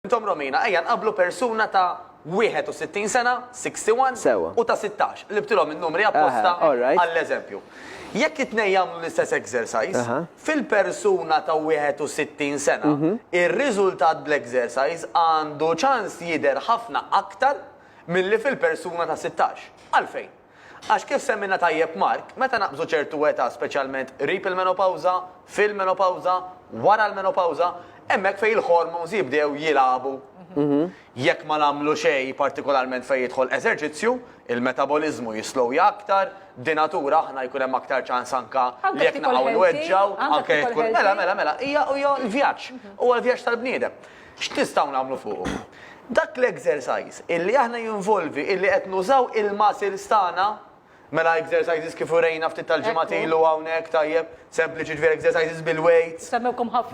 Intom Romina, ejja nqabblu persuna ta' 61 sena, 61, Sewwa. u ta' 16, qlibtilhom in-numri apposta Aha, all right. għall-eżempju. Jekk it-tnejn jagħmlu l-istess exercise, Aha. fil-persuna ta' 61 sena, ir-riżultat bl-exercise għandu ċans jidher ħafna aktar milli fil-persuna ta' 16. Għalfejn? Għax kif semmielna tajjeb Mark, meta naqbżu ċertu età speċjalment qrib il-menopawża, fil-menopawża, wara l-menopawża, hemmhekk fejn il-hormones jibdew jilagħbu. Jekk ma nagħmlu xejn partikolarment fejn jidħol eżerċizzju, il-metaboliżmu jislowja aktar, b'dinatura aħna jkun hemm aktar ċans anke li jekk naqgħu nweġġgħu, anke jekk tkun, mela, mela, mela, hija, hija l-vjaġġ, huwa l-vjaġġ tal-bniedem. X'nistgħu nagħmlu fuqu? Dak l-exercise illi aħna jinvolvi illi qed nużaw il-muscles tagħna, mela exercises kif urejna ftit tal-ġimgħat ilu hawnhekk, tajjeb, sempliċi, ġifieri exercises bil-weights,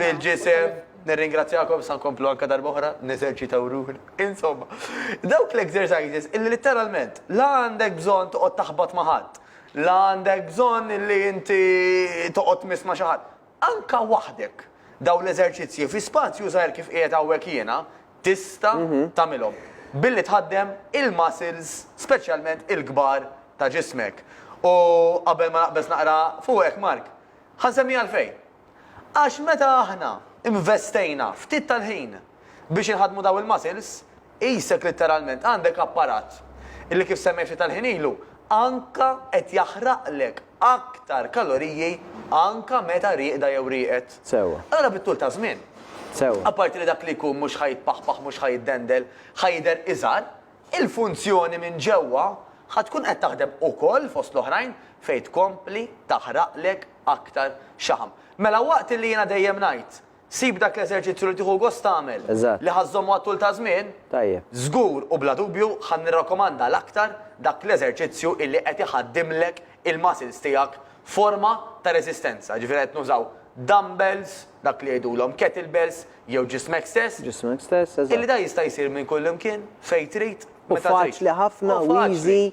bil-ġisem, nirringrazzjakom issa nkomplu anke darba oħra neżerċitaw ruħna, insomma, dawk l-exercises illi litteralment la għandek bżonn toqgħod taħbat ma' ħadd, la għandek bżonn illi inti toqgħod tmiss ma' xi ħadd, Anke waħdek, dawn l-eżerċizzji fi spazju żgħir kif qiegħed hawnhekk jiena, tista' tagħmilhom billi tħaddem il-muscles speċjalment il-kbar ta' ġismek. U qabel ma naqbeż naqra fuqek, Mark, ħa nsemmi għalfejn. Għax meta aħna investejna ftit tal-ħin biex inħaddmu dawn il-muscles, Qisek litteralment għandek apparat li kif semmejt ftit tal-ħin ilu, anka qed jaħraqlek aktar kaloriji anka meta rieqda jew rieqed. Sewwa. Allura bit-tul taż-żmien. Sewwa. Apparti li dak li jkun mhux ħa jitpaħpaħ mhux ħa jiddendel, ħa jidher iżgħar, il-funzjoni minn ġewwa ħa tkun qed taħdem ukoll fost l-oħrajn fejn tkompli taħraqlek aktar xaħam. Mela waqt li jiena dejjem ngħid Sib dak l-eżerċizzju li tieħu gost tagħmel, li ħa żżommu għat-tul ta' żmien. Żgur u bla dubju ħa nirrakkomanda l-aktar dak l-eżerċizzju illi qed iħaddimlek il-muscles tiegħek f'forma ta' reżistenza, jiġifieri qed nużaw dumbbells, dak li jgħidulhom kettlebells jew ġismek stess, illi dan jista' jsir minn kullimkien, fejn trid, meta trid. U faċli ħafna u easy.